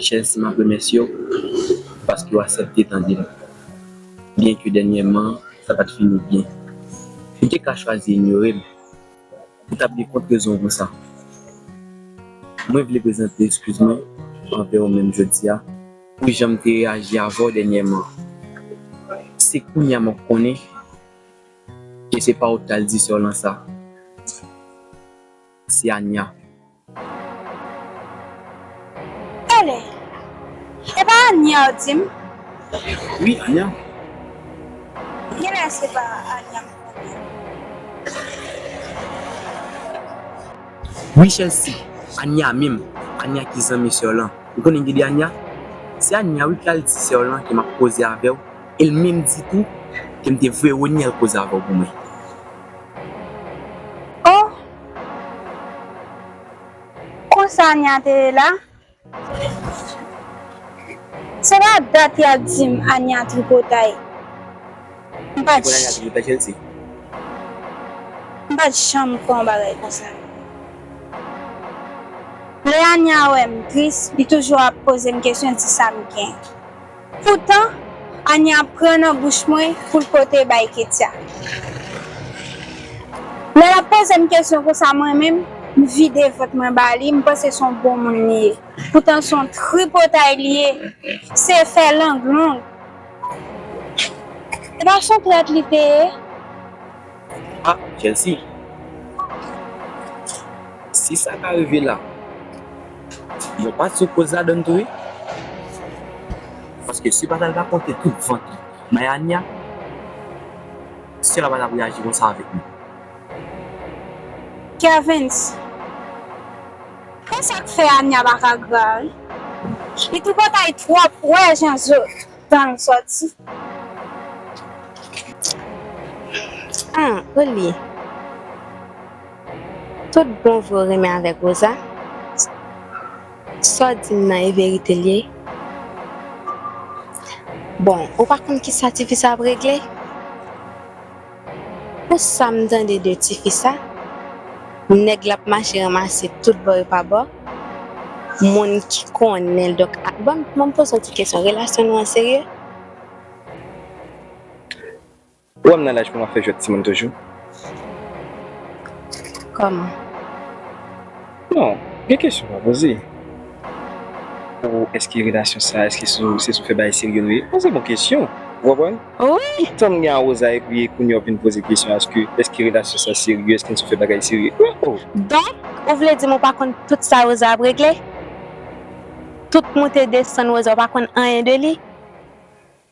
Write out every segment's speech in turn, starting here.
Chèz map remèsye w paske w asèpte tande m byen ke dènyèman sa pat fini byen ou te ka chwazi inyore m ou tap gen kont rezon w konsa mwen vle prezante eskiz mwen anvè w menm jodi a pou jan m te reyaji avè w dènyèman se kounye a map konnen ke se pa w tal di sè w lan sa se Ania. Elè e pa ania ou dim. Wi ania. Genlè se pa ania m konnen. Wi chèlsi ania menm ania ki zanmi sèw lan ou konnen gede ania se ania wi ki al di sèw lan ke map koze avèw el menm di tou kem te voye ronyèl koze avèw pou mwen. Oh! Konsa Ania te ye la? Se pa dat ya di m Ania tripotay. M pa t janm kwè yon bagay konsa. Lè Ania wè m tris, li toujou ap poze m kesyon di sa m gen. Poutan, Ania pran nan bouch mwen pou l pote bay Ketya. Lè l ap poze m kesyon konsa mwen menm, m vide vant mwen ba li, m panse s on bon moun li ye. Poutan s on tripotay li ye, se fè lang long. Se pa s on trèt li te ye? Ah Chelsea si sa ka rive la yon pa ti koz ladann tou wi paske si Batal ta pote tout vant li bay Ania Sera pa tap reyaji konsa avèk li. Kervens. Konsa k fè Ania paka gra wi. Li tripotay twòp ou wè jan zo Tang soti. An ou li. Tout bon vre ou renmen avek Rosa. Sa w dim nan e verite l ye. Bon ou pa konn kisa tifi sa ap regle. Pou sam tande de tifi sa nèg lap mache ranmase tout bò e pa bò moun ki konnenl donk banm banm poze yon ti kesyon relasyon nou an serye? Ou wèm nan laj pou map fè jwèt timoun toujou? Kòman? Non, gen kesyon pa poze. Ou eske relasyon sa eske se sou fè bagay serye nou ye? Bon se bon kesyon, ou konprann? Wi! Tanm gen awoza epi kounye a ou vin poze kesyon aske eske relasyon sa serye, eske n sou fè bagay serye? Wi oh! Donk ou vle di m ou pa konn tout sa Rosa ap regle? Tout moute desann Rosa ou pa konn anyen de li?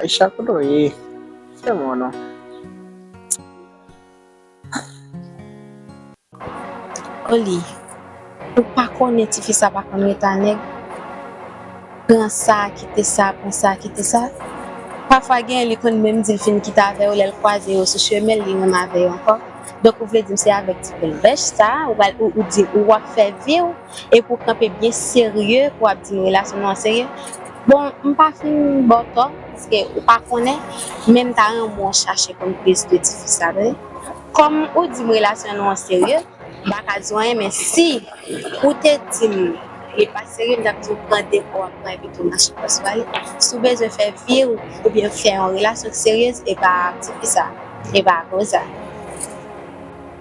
Aïcha kote w ye? Fè m wè w non. Oli, Ou pa konnen ti fi sa pa konn ret a nèg. Pran sa, kite sa, pran sa, kite sa. Pafwa gen lè li konn menm di l fin kite avè yo lè l kwaze yo sou chemen l li renmen avè yo ankò. Donk ou vle di m se avèk ti pèl bèch sa ou pral ou di ou wap fè vi w? e pou w kanpe byen serye pou w ap di m relasyon nou an serye, bon m pa fin ba w tò paske ou pa konnen men m ta renmen w chache konn plis de ti fi sa tande. Kòm ou di m relasyon nou an serye m pa ka di w anyen men si ou te di m li pa serye m t ap di w pran depo w ap pran epi tou mache fòs w ale, si w bezwen fè vi w oubyen fè yon relasyon seryez e pa ak ti fi sa e pa ak Rosa.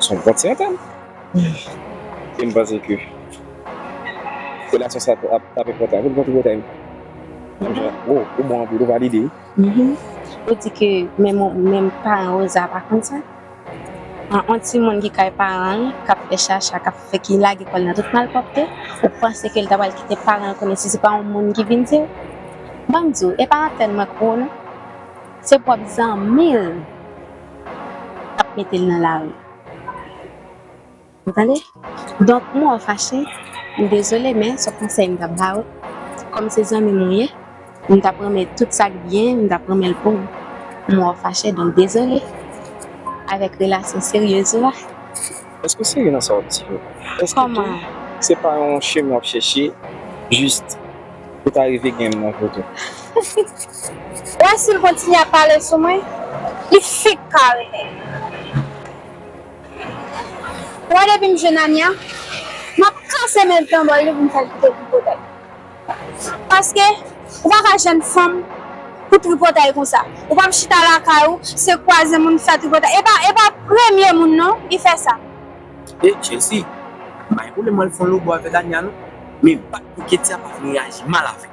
Son vant sentimental. E m panse ke relasyon sa tap enpòtan pou nou kontinye tèm. Woo, ou bon anpil, ou valide wi. Ou di ke menm paran Rosa pa konn sa? An yon timoun ki kay paran l, k ap fè chacha, k ap fè, ki lage kò l nan tout malpwòpte, ou panse ke l ta pral kite paran l konnen si se pa yon moun ki vin di l? Ban m di w, e pa antèn mwen koupe w non. Se pwòp zanmi l k ap mete l nan lari. Ou tande? Donk, mwen wè w fache, m dezole men se konsèy m t ap ba ou, kòm se zanmi m ou ye, m t ap renmen tout sa k byen m t ap renmen l pou ou. M wè w fache donk dezole avèk relasyon seryez ou a. Èske w serye nan sa w ap di yo? Èske tou se pa yon chemen w ap chèche jis pou ta rive gen m nan vo tou? Wè sil kontinye ap pale sou mwen li fenk kare nèg ou wè depim jwenn Ania map kase menl pran bòl li poum fèl kite tripotay paske ou paka jwenn fanm pou tripotay konsa ou pap chita lakay ou se kwaze moun fè tripotay epa epa premye moun non li fè sa. E Chelsea, m pa gen pwoblèm mwen al fon lobo avèk Ania non, men bat pou Kettia pa fin reyaji mal avèm.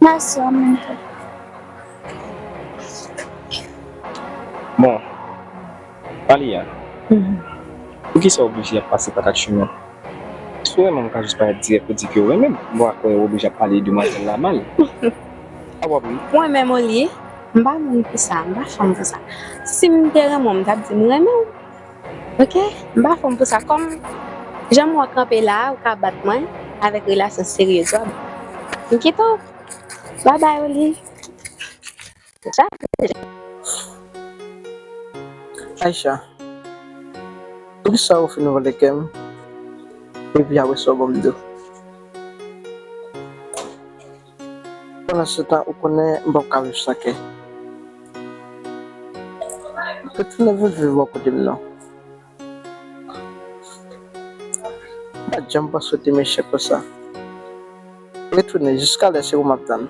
Merci en menm tan. Bon, Alia, poukisa ou oblije ap pase pa kat chimen? Si w renmen m ou ka jis parèt dirèk pou di ke ou renmen m, m pa kwè ou oblije ap pale demwazèl la mal. Sa wap ri? Mwen menm Olie, m pa moun pou sa, m pa fanm pou sa. Si m te renmen w m tap di m renmen w. Ok, m pa fòm pou sa. Kòm janm wè w kanpe la a, ou ka bat mwen avèk relasyon seryez ou a. M kite w. Bye bye Olive. Aïcha, poukisa ou fin vòlè kè m epi apresa w ban m do? Pandan se tan ou konnen m pap ka viv san kè. Retounen vin viv bò kote m non. M pat janm panse w te mechan konsa. Retounen jiskalè se ou m ap tann.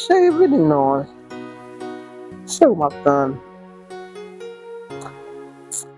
Cheri vini non. Se ou m ap tann.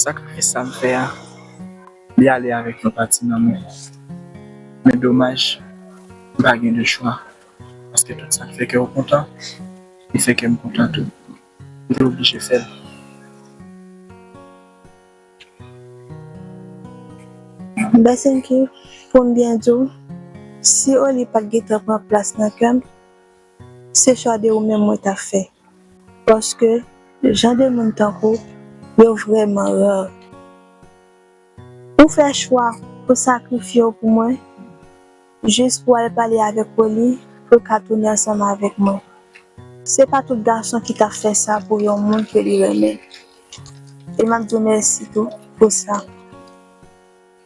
Sakrifis sa m fè a, li ale avèk yon pati nan mwen. Men domaj, m pa gen de chwa, paske tout sa k fè kè w kontan, li fè kè m kontan tou. M te oblije fè l. Ben Senki, pou m byen di w, si Oli pa t gentan pran plas nan kè m, Se chwa de ou menm mwen ta fè paske jan de moun tankou w yo vrèman rare. Ou fè chwa pou sakrifye w pou mwen jis pou al pale avèk Rolly pou l ka tounen ansanm avèk mwen. Se pa tout gason ki ta fè sa pou yon moun ke li renmen e m ap di w mèsi tou pou sa.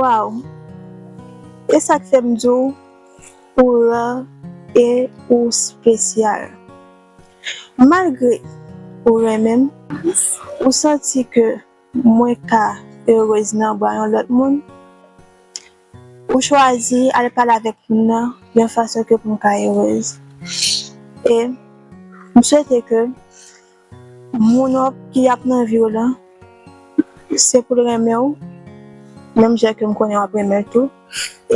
Waww e sak fèm di w ou ra e ou spesyal malgre ou renmen m ou santi ke mwen ka erez nan bra yon lòt moun ou chwazi al pale avèk moun nan yon fason ke pou m ka erez e m swete ke Moun wap di yap nan viw lan se poul renmenw menm jan kem konnen wap renmenl tou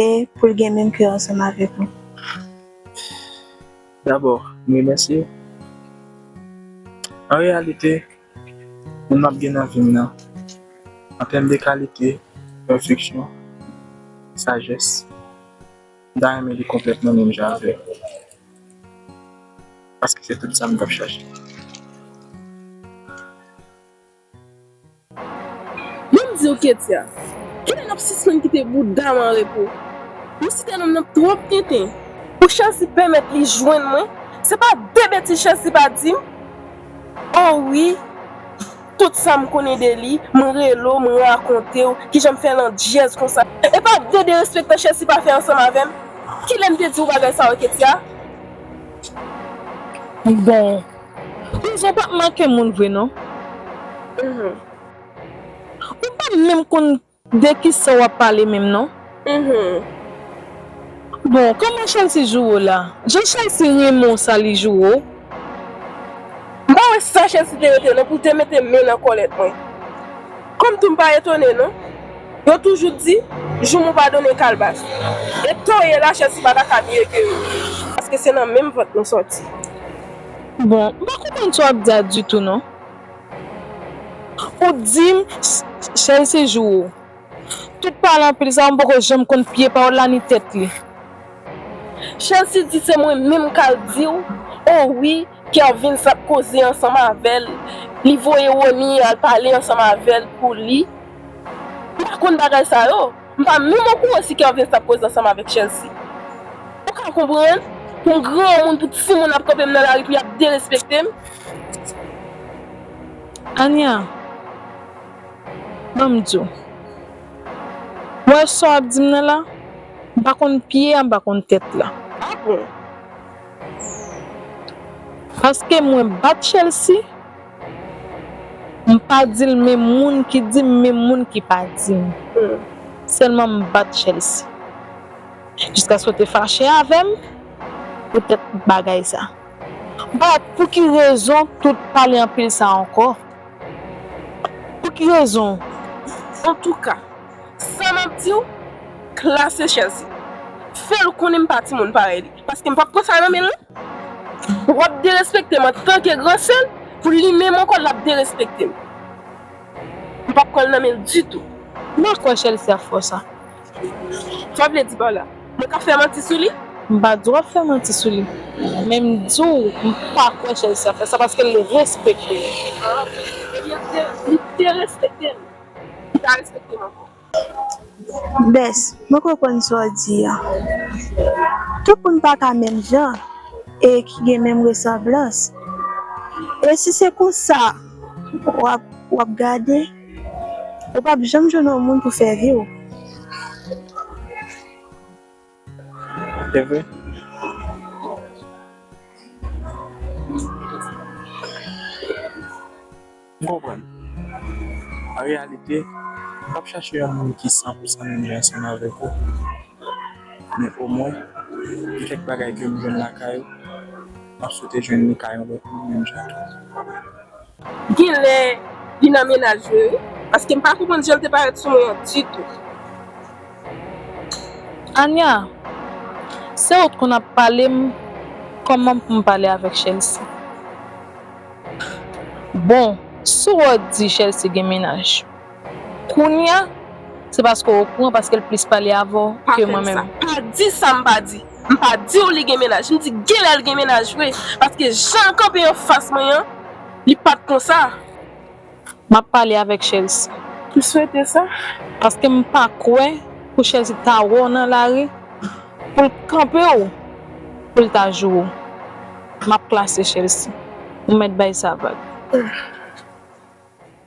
e poul gen menm kè ansanm avèk ou. Dabò m remèsye w. An reyalite, moun map gen nan vim nan, an tèm de kalite, pèfeksyon, sajès, m ta renmen li konplèt nan menm jan avèm. Paske se tout sam tap chache. Mwen m diw ketya, kilè nap sispann kite boudam an repo, nou site nom nan twop tenten. Pou Chelsea pèmèt li jwenn mwen, se pa de betiz Chelsea pa dim oh wi. Tout sa m konnen de li, m rele w, m rakonte w, kijan m fè landjèz konsa. E pa gen derespektan Chelsea pa fè ansanm avè m? Kilè m te di w bagay sa yo Ketya? Bon, Prizon pa p manke moun vre non. Ou pa menm konn De kisa wap pale menm non. Humm bon kòman Chelsea joure w la jan Chelsea renmen w sa li joure w. M pa wè sa Chelsea te rete non pou l te mete men nan kòlèt mwen. Kòm tou m pa etone non. Yo toujou di, joumou pa donnen kalbas. E to ye la Chelsea pa ta ka mye ke yo. Paske se nan menm vant nou sòti. Bon m pa konprann sa w ap di a ditou non. Ou t dim Shell se jou ou. Tout pale anpil sa mpoko janm konn pye pawòl la ni tèt li. Chelsea di se mwen menm kal diw oh wi kervens ap koze ansanm avèl li voye Rony al pale ansanm avèl pou li m pa konn bagay sa yo m pa menm okouran si kervens tap koze ansanm avèk chelsea ou ka konprann pou m granmoun pou timoun ap kanpe m nan lari pou yap derespektem. Ania, ban m di w. Ou wè sa w ap di m nan la? M pa konn pye a, m pa konn tèt la. A bon? Paske mwen bat Chelsea, m pa di l menm moun ki di m menm moun ki pa di m. Sèlman m bat Chelsea. Jiskaske w te fache avè m poutèt bagay sa. But pou ki rezon tout pale anpil sa ankò? Pou ki rezon? Antouka, sa map di w, klase chèz li. Fè l konnen m pa timoun parèy li, paske m pap pran sa nan men l non. Wap derespekte m antanke gran sè l, pou li menm ankò l ap derespekte m. M pap pran l nan men l ditou. M pa kwè Chelsea fò sa. Sa w vle di pa w la? Mwen ka fè manti sou li? M pa di w ap fè manti sou li. Men m di w m pa kwè Chelsea ap fè sa paske l respekte l. Ebyen li te respekte m, li pa respekte m ankò. Bess, mwen konprann sa w di a. Tout moun pa ka menm jan e ki gen menm resanblans. E si se konsa w ap gade? Ou pap janm jwenn yon moun pou fè vi w. Se vre. M konprann. An reyalite, ou pap chache yon moun ki san pou san menm jan ansanm avèk ou. Men omwen, gen kèk bagay ke m jwenn lakay ou, m ap swete jwenn li kay yon lòt moun menm jan tou. Genlè li nan menaj vre wi. Paske m pa konprann jan l te parèt sou mwen an ditou. Ania, se ou t konn ap pale m kòman pou m pale avèk Chelsea. Bon, si w ap di Chelsea gen menaj. Kounya se paske w okouran paske l plis pale avè w ke mwen menm. Pa fè m sa. Pa di sa m pa di. M pa di w li gen mennaj. M di genlè l gen mennaj vre. Paske jan l kanpe an fas mwen an, li pa t konsa. M ap pale avèk Chelsea. M swete sa. Paske m pa kwè pou Chelsea ta wè w nan lari pou l kanpe w pou l ta joure w. M ap klase Chelsea. Ou mèt bay sa vag.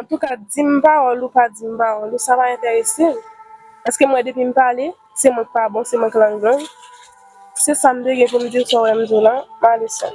Antouka dim pawòl ou pa dim pawòl ou sa pa entèresem paske mwen depim pale se mwen ki pa bon se mwen ki lang gang se sam te gen poum diw sa ou wèm diw la male sèm.